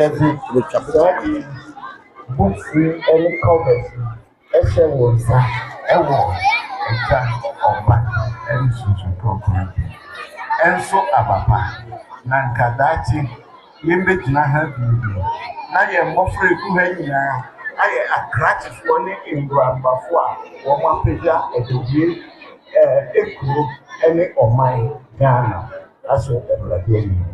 Ɛbi retwa prɛte. Books ne covers hyɛ wɔn nsa wɔ agya, ɔba ne susu nkrɔfoɔ no bi. Nso aba pa na nka daakye yɛbɛgyina ha bio bio na yɛn mmɔfra a ɛgu ha nyinaa ayɛ akrakyefoɔ ne nnurabafoɔ a wɔapagya atɛdie ɛɛ kuro ne ɔman Ghana ahyɛ Awurade anim.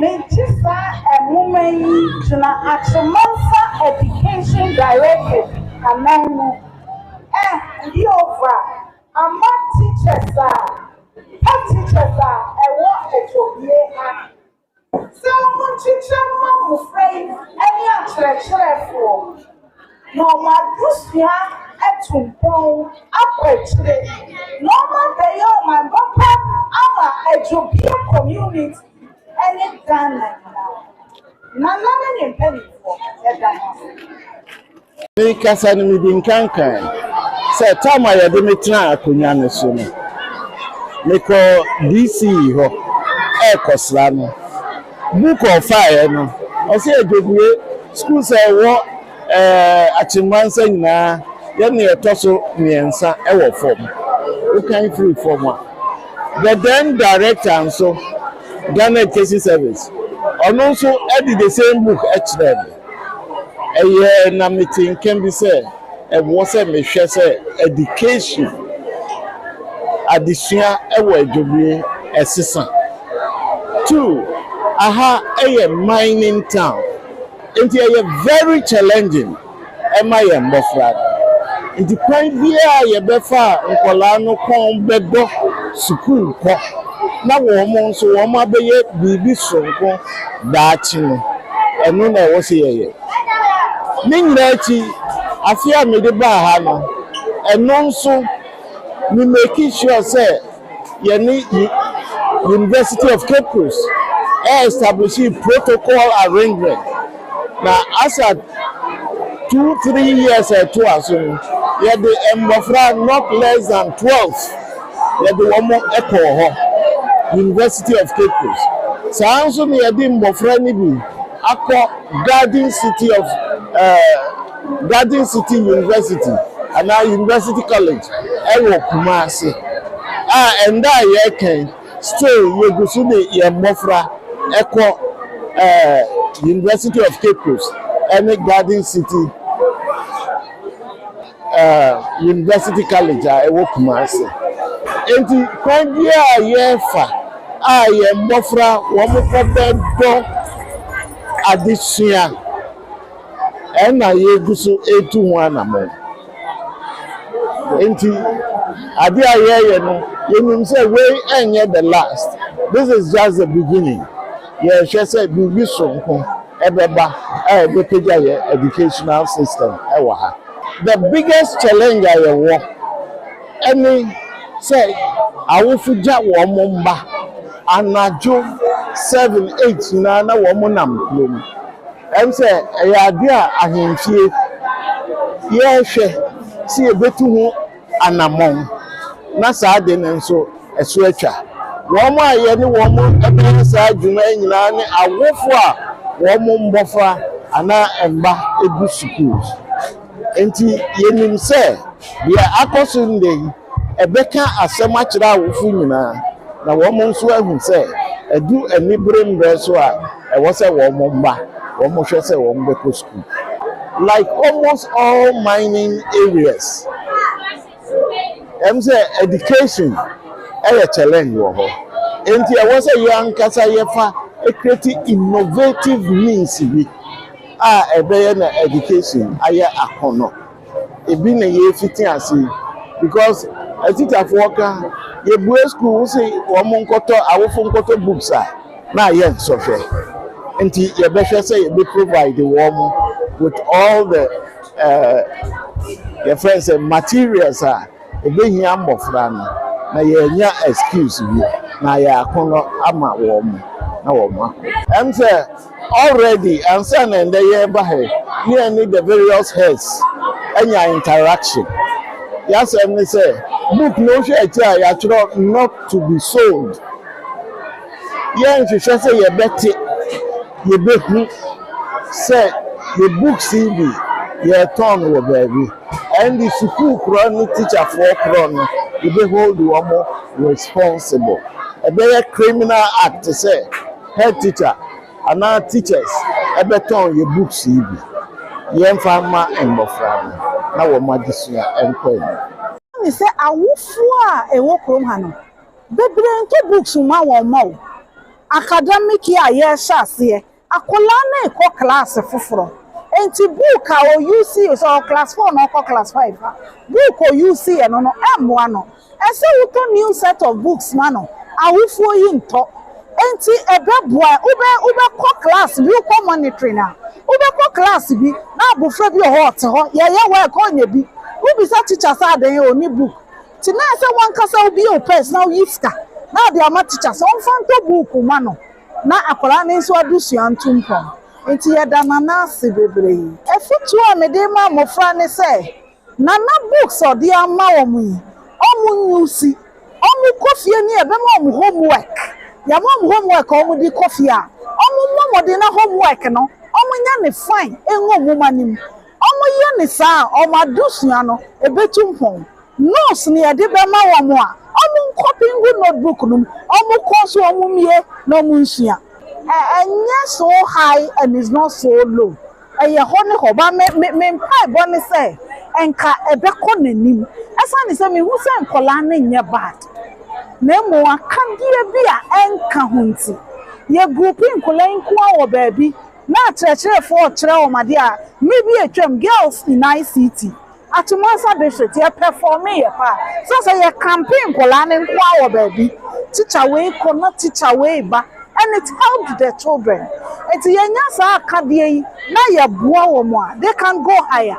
Megye saa nwoma yi gyina Akyemangsa Education Directorate ananmu. Eh, Jehovah, ama teachers a, pa teachers a ɛwɔ Atuohene ha, sɛ wɔnkyekyɛ mma mmofra yi ne akyerɛkyerɛfoɔ. Na wɔn abusua atu mpɔn akɔ akyire na wɔn abɛyɛ ɔman papa ama Adwobie community ɛne Ghana nyinaa. Nana ne ne mpaninfoɔ yɛda mo ase. Me kasa no me di nkan kan sɛ time a yɛde me tena akonwa no so no me kɔ DC hɔ ɛɛkɔ sra no. Mu kɔ faeɛ no, ɔse adwadie sukuu sɛ ɛwɔ Akyemma nsa nyinaa yɛ nea ɛtɔ so mmiɛnsa wɔ fam. Wokan firi fam a, the then director nso, Ghana Education Service, ɔno nso de the same book kyerɛɛ me. Ɛyɛ na mete nka bi sɛ ɛwɔ sɛ mehwɛ sɛ ɛdikasyon, adesua wɔ Adwobue, ɛsesa. Two, aha yɛ mining town nti ɛyɛ very challenging ma yɛn mmɔfra no. Nti kwan biara a yɛbɛfa a nkwadaa no kɔn bɛdɔ sukuu kɔ na wɔn nso wɔabɛyɛ biribi soronko. daakye no, ɛno na ɛwɔ sɛ yɛyɛ. Ne nyinaa akyi, afe a mede baa ha no, ɛno nso, me make sure sɛ yɛne University of Cape Coast establishee protocol arrangement. Na Asa two three years a ɛtoa so no, yɛde mmɔfra not less than twelve yɛde wɔn kɔɔ hɔ, University of Cape Coast. Saa ara nso na yɛde mmɔfra no bi akɔ Garden City of eh, Garden City University anaa University College wɔ Kumasi a ɛnnɛ a yɛreka yi, Still yegu so de yɛn mmofra kɔ ɛɛ University of Cape Coast ɛne Garden City ɛɛ University College a ɛwɔ Kumasi. Enti kwan biara a yɛfa a yɛn mmofra wɔkɔ bɛdɔ adesua ɛna yegu so etu ho anamɔn. Enti ade a yɛreyɛ no, yɛnim sɛ wei ɛnyɛ the last, this is just the beginning. Yɛrehwɛ sɛ biribi soronko ɛbɛba a ɛbɛpagya yɛn educational system ɛwɔ ha. The biggest challenge a yɛwɔ ɛne sɛ awofo gya wɔn mma anadwo seven, eight nyinaa na wɔn nam kurom. Ɛwom sɛ ɛyɛ ade a ahemfie yɛhwɛ sɛ yebetu ho anammɔn na saa de no nso ɛso atwa, wɔn a yɛne wɔn bɛyɛ saa dwuma yi nyinaa ne awofo a wɔn mmofra anaa mma gu sukuu. Enti yenim sɛ nea akɔ so nnɛ yi bɛka asɛm akyerɛ awofo nyinaa na wɔn nso ahu sɛ adu anibere mmere so a Ɛwɔ sɛ wɔn mma wɔn hwɛ sɛ wɔn bɛkɔ sukuu. Like almost all mining areas, ɛm sɛ education yɛ challenge wɔ hɔ. Enti ɛwɔ sɛ yɛn ankasa yɛfa create innovative means bi a ɛbɛyɛ na education ayɛ akɔnɔ. ebi na yɛrefiti ase because atitafoɔ ka yɛbue school wo se wɔn nkɔtɔ awofo nkɔtɔ books a na ayɛ nsɔhwɛ nti yɛbɛhwɛ sɛ yɛbɛ provide wɔn with all the uh, yɛfrɛ sɛ materials a Ebehia mbofra no na yeenya excuse bi na yaako no ama wɔn na wɔn akɔ. Ɛm sɛ already ansa na ndɛ yɛɛba ha yi ne yɛne the various heads anya interaction. Y'asɛm ne sɛ book no wohwɛ akyire a y'atwerɛ not to be sold. Yɛnhwehwɛ sɛ yɛbɛte, yɛbɛhu sɛ yɛ books yi bi yɛɛtɔn no wɔ baabi. Ɛnde sukuu korɔ no tikyafoɔ korɔ no yɛbɛ hold wɔn responsible. Ɛbɛyɛ criminal act sɛ head teacher anaa teachers bɛtɔn yɛn books yi bi. Yɛmfa mma mmɔfra no na wɔn adesua nkɔ anim. Ɛne sɛ awofoɔ a ɛwɔ kurom ha no bebree ntɔ books mma wɔn mma o. Academic year a yɛrehyɛ aseɛ Akwadaa no rekɔ klaase foforɔ nti book a ɔyuusii, sɛ ɔwɔ class four na ɔrekɔ class five a, book a ɔyuusiiɛ no no mmoa no. Ɛsɛ sɛ wotɔ new set of books ma no, awofoɔ yi ntɔ. Enti ɛbɛboa, wobɛ, wobɛkɔ class bi, wokɔ monitoring a, wobɛkɔ class bi na abɔfra bi wɔ hɔ a ɔte hɔ, yɛyɛ work a ɔnyɛ bi. Wobisa teacher sɛ adɛn ɔnni book. Nti na ɛsɛ sɛ wo ankasa wobie wo purse na woyi sika na wode ama teacher sɛ ɔmfa ntɔ book mma no. Na akwadaa no nso adesua ntu mpɔn, enti yɛda Nana ase bebree. Afotuo a mede rema mmɔfra ne sɛ, Nana books a ɔde ama wɔn yi, wɔn use, wɔkɔ fie no yɛbɛma wɔn homework, yɛama wɔn homework a wɔde kɔ fie a, wɔmmɔ mmɔden na homework no wɔnyɛ no fine ɛngu nwoma no mu. Wɔyɛ no saa a, wɔn adesua no betu mpɔn. Notes na yɛde bɛma wɔn a, wɔnkɔpe ngu notebook no mu, wɔnkɔ so mmue na wɔnsua. Ɛnyɛ so high and it's not so low, ɛyɛ hɔ ne hɔ. But me me me mpaebɔ ne sɛ nka ɛbɛkɔ n'anim. Ɛsiane sɛ mehu sɛ nkwadaa no nyɛ bad na mmom akadeɛ bi a ɛnka ho nti, yɛ groupi nkwadaa yi nko ara wɔ baabi na akyerɛkyerɛfo rekyerɛ wɔn ade a mmere bi a atwam Girls in ICT, Atumansa District, yɛpɛfɔɔmeeɛ paa. Sɛ sɛ yɛkampee nkwadaa no nko ara wɔ baabi, tikya wei kɔ na tikya wei ba and it helped the children. Enti yɛnya saa akadeɛ yi na yɛboa wɔn a, they can go higher.